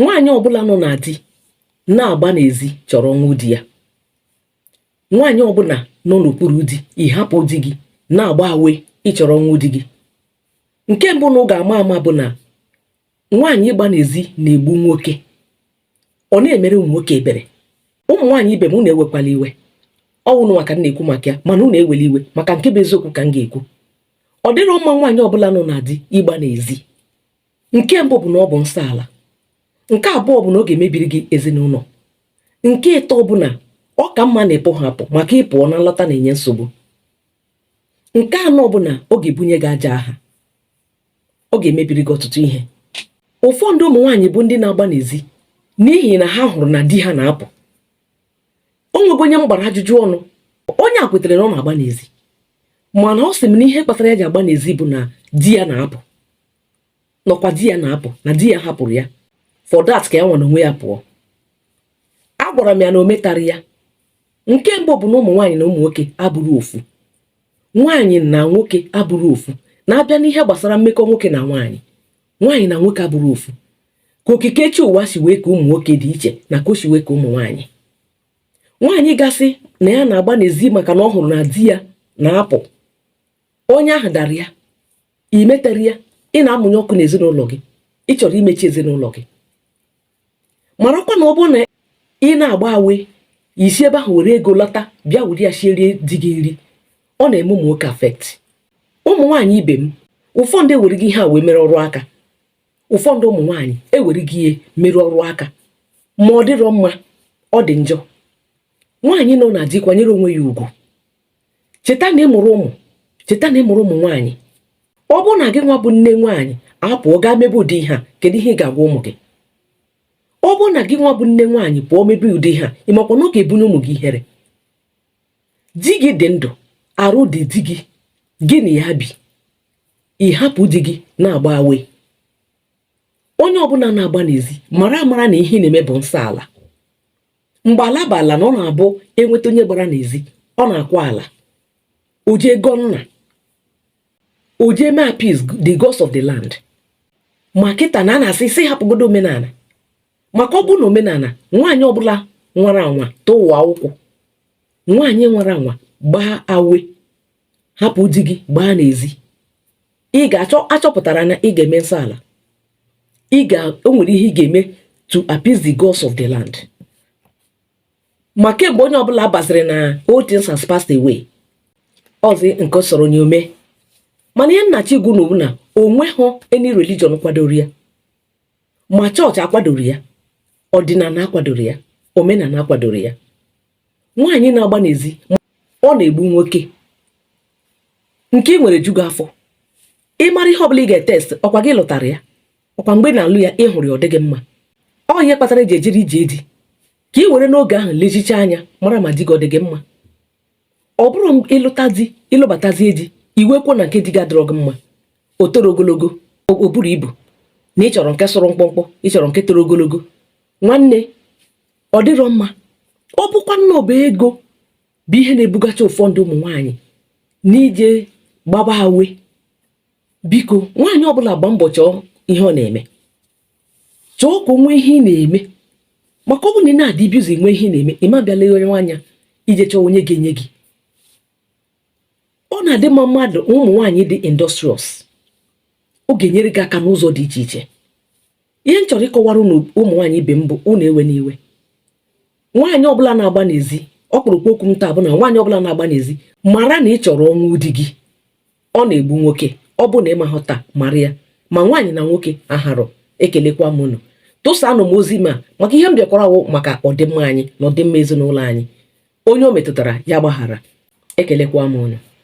nwaanyị ọbụla nọ na di na-agba n'ezi chọrọ ọnwụ di ya nwaanyị ọbụla nọ n'okpuru di ị hapụ di gị na-agba awe ị chọrọ ọnwụ di gị nke mbụ na ọ ga-ama ama bụ na nwaanyị ịgba n'ezi na-egbu nwoke ọ na-emere ụmụ nwoke ebere ụmụ nwaanyị ibe m unu ewekwala iwe ọ wụ unu ka m na-ekwu maka ya mana unu ewele iwe maka nke bụ eziokwu ka m ga-ekwu ọ dịrọ mma nwaanyị ọbụla nọ na di ịgba n'ezi nke mbụ bụ na ọ bụ nsọ ala nke abụọ bụ na ọ ga-emebiri gị ezinụlọ nke ịtọ bụ na ọ ka mma na ị pụghị apụ maka ị pụọ na nlọta na-enye nsogbu nke anọ bụ na ọ ga-ebunye gị ajọ aha ọ ga-emebiri gị ọtụtụ ihe ụfọdụ ụmụ nwaanyị bụ ndị na-agba n'ezi n'ihi na ha hụrụ na di ha na-apụ o nwego onye m gbara ajụjụ ọnụ onye a kwetere na ọ na-agba n'ezi mana ọ sị m na ihe kpatara ya ji agba n'ezi bụ na di ya na-apụ na ọ kwa di ya na-apụ na di ya hapụrụ ya for that ka ya nwa n'onwe ya pụọ agwara m ya na o metarọ ya nke mbụ bụ na ụmụ nwaanyị na ụmụ nwoke abụrọ ofu nwaanyị na nwoke abụrọ ofu na a bịa n'ihe gbasara mmekọ nwoke na nwaanyị nwaanyị na nwoke abụrọ ofu ka okike chi ụwa si wee kee ụmụ nwoke dị iche na ka o si wee kee ụmụ nwaanyị nwaanyị ga-asị na ya na-agba n'ezi maka na ọ hụrụ na di ya na-apụ onye ahụ dara ya i metarọ ya ị na-amụnye ọkụ n'ezinụlọ gị ị chọrọ imechi ezinụlọ gị marakwa na ọ bụrụ na ị na-agba awe i si ebe ahụ were ego lọta bịa were ya siere di gị nri ọ na-eme ụmụ nwoke affect ụmụ nwaanyị ibe m ụfọdụ ewerego ihe a wee mere ọrụ aka ụfọdụ ụmụ nwaanyị ewerego ihe a mere ọrụ aka ma ọ dịrọ mma ọ dị njọ nwaanyị nọ na di kwanyere onwe ya ugwu cheta na ị mụrụ ụmụ cheta na ị mụrụ ụmụ nwaanyị ọ bụrụ na gị nwa bụ nne nwaanyị apụọ gaa mebe ụdị ihe a kedu ihe ị ga-agwa ụmụ gị ọ bụrụ na gị nwa bụ nne nwaanyị pụọ mebe ụdị ihe a ị makwa na ọ ga-ebunye ụmụ gị ihere di gị dị ndụ arụ dị di gị gị na ya bi ị hapụ di gị na-agba awe onye ọbụla na-agba n'ezi mara amara na ihe ọ na-eme bụ nsọ ala mgbe ala bụ ala na ọ na-abụ e nweta onye gbara n'ezi ọ na-akwa ala o jee gọọ nna o jee mee appease the gods of the land ma kịta na a na-asị si hapụgodo omenala maka ọ bụrụ n'omenala nwaanyị ọbụla nwara anwa tụwaa ụkwụ nwaanyị nwara anwa gbaa awe hapụ di gị gbaa n'ezi ị ga-achọ a chọpụtara na ị ga-eme nsọ ala ị ga o nwere ihe ị ga-eme to appease the gods of the land ma kemgbe onye ọbụla bazịrị na old things has passed away ọ zị nke sọrọ onye o mee mana ihe m na-achọ ịgwa unu bụ na o nwehụ any religion kwadoro ya ma chọọchị akwadoro ya ọdịnala akwadoro ya omenala akwadoro ya nwaanyị na-agba n'ezi ọ na-egbu nwoke nke ị nwere ju gị afọ ị mara ihe ọbụla ị ga-etest ọ kwa gị lụtara ya ọ kwa mgbe ị na-alụ ya ị hụrụ ya ọ dị gị mma ọ ihe kpatara e ji ejiri ije di ka ị were n'oge ahụ lezicha anya mara ma di gị ọ dị gị mma ọ bụrọ ị lụta di ị lụbatazie di ị wee kwuo na nke di gị adịrọ gị mma o toro ogologo o buru ibu na ị chọrọ nke sụrụ mkpụmkpụ ị chọrọ nke toro ogologo nwanne ọ dịrọ mma ọ bụkwa na ọ bụ ego bụ ihe na-ebugacha ụfọdụ ụmụ nwaanyị n'ije gbaba away biko nwaanyị ọbụla gba mbọ chọọ ihe ọ na-eme chọọ ka o nwee ihe ị na-eme maka ọ bụ na ị na-adị busy nwee ihe ị na-eme ị ma bịa legharị anya ije chọọ onye ga-enye gị ọ na-adị mma mmadụ ụmụ nwaanyị dị industrious ọ ga-enyere gị aka n'ụzọ dị iche iche ihe m chọrọ ịkọwara ụmụ nwaanyị ibe m bụ unu ewena iwe nwaanyị ọbụla na-agba n'ezi ọkpụrụkpụ okwu m taa bụ na nwaanyị ọbụla na-agba n'ezi mara na ị chọrọ ọnwụ di gị ọ na-egbu nwoke ọ bụ na ị mahụ taa mara ya ma nwaanyị na nwoke aharọ ekelekwa m unu tụsanụ m ozi ma maka ihe m bịakwara wụ maka ọdịmma anyị na ọdịmma ezinụlọ anyị onye o metụtara ya gbaghara ekelekwa m unu